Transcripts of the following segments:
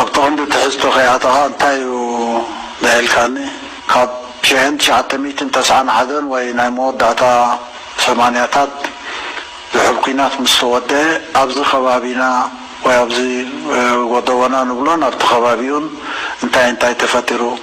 ኣብቲ ቀንዲ ትሕዝቶ ከይኣተኻ እንታይ እዩ በሀልካኒ ካብ ሸሔን ትሽዓተ ሚእትን ተስዓን ሓደን ወይ ናይ መወዳእታ ሰማንያታት ዝሑል ኩናት ምስ ተወደኤ ኣብዚ ከባቢና ወይ ኣብዚ ጎዶቦና ንብሎን ኣብቲ ከባቢኡን እንታይ እንታይ ተፈጢሩ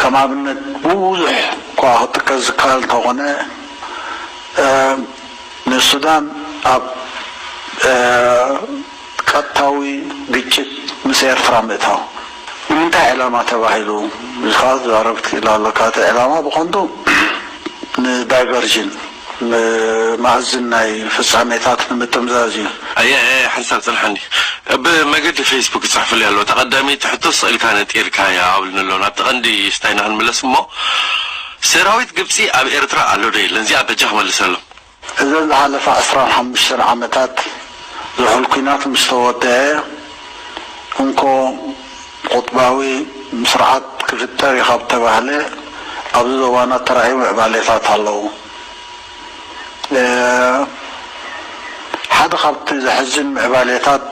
ከም ኣብነት ብብዙሕ እኳ ክጥቀስ ዝከኣል እንተኾነ፣ ንሱዳን ኣብ ቀጥታዊ ግጭት ምስ ኤርትራ ምእታው፣ ንምንታይ ዕላማ ተባሂሉ ኢልካ ክትዛረብ ትክእል ኣሎካ። እቲ ዕላማ ብቐንዱ ንዳይቨርዥን። ብማእዝን ናይ ፍጻሜታት ንምጥምዛዝ እዩ። ኣየ ሓንሳብ ጽንሓኒ ብ መገዲ ፈይስቡክ ይጽሕፉለይ ኣለዉ እታ ቀዳመይቲ ሕቶ ስቅ ኢልካ ነጢርካያ ኣብሉኒ ኣለዉ ናብቲ ቀንዲ ስታይና ክንምለስ እሞ ሰራዊት ግብጺ ኣብ ኤርትራ ኣሎ ዶ የለን እዚኣ በጃ ክመልሰሎም። እዘን ዝሓለፋ ዕስራን ሓሙሽተን ዓመታት ዝሑል ኩናት ምስ ተወደኣ እንኮ ቁጥባዊ ምስርዓት ክፍጠር እዩ ካብ ተባህለ ኣብዚ ዞባና ተራእዩ ምዕባሌታት ኣለዉ። ሓደ ካብቲ ዘሕዝን ምዕባሌታት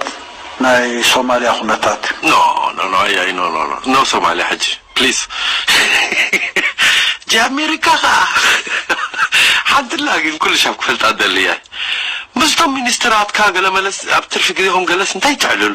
ናይ ሶማልያ ኩነታት እዩ። ኖ ኖ ኖ ኣያይ ኖ ኖ ኖ ኖ ሶማልያ ሕጂ ፕሊስ ጃ ኣሜሪካ ከኣ ሓንቲ ኣላ ግን ኩሉ ሻብ ክፈልጣ ደሊ እየ ምስቶም ሚኒስትራትካ ገለ መለስ ኣብ ትርፊ ግዜኹም ገለስ እንታይ ተዕልሉ።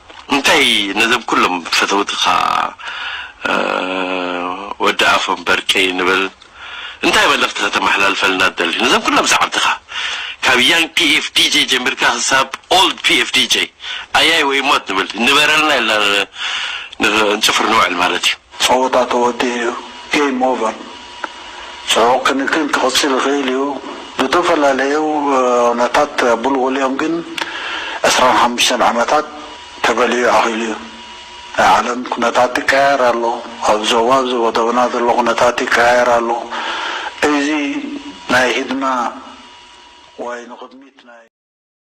እንታይ ነዞም ኩሎም ፈተውትኻ ወዲ ኣፎም በርቂ ንብል እንታይ መልእኽቲ ከተመሓላልፈልና ትደሊ ነዞም ኩሎም ሰዓብትኻ ካብ Young PF DJ ጀሚርካ ክሳብ Old PF DJ ኣያይ ወይ ሞት ንብል ንበረልና ኢልና ንጽፍር ንውዕል ማለት እዩ። ጸወታ ተወዲኡ እዩ game over ጽዑቕ ክንክን ክቕጽል ይኽእል እዩ፣ ብእተፈላለዩ ዅነታት ኣብልዎሊኦም ግን ዕስራን ሓሙሽተን ዓመታት ተበሊዑ ኣኺሉ እዩ። ናይ ዓለም ኵነታት ይቀያየር ኣሎ፣ ኣብ ዞባ ኣብ ዘቦዶብና ዘሎ ኵነታት ይቀያየር ኣሎ፣ እዚ ናይ ህድማ ወይ ንቕድሚት ናይ።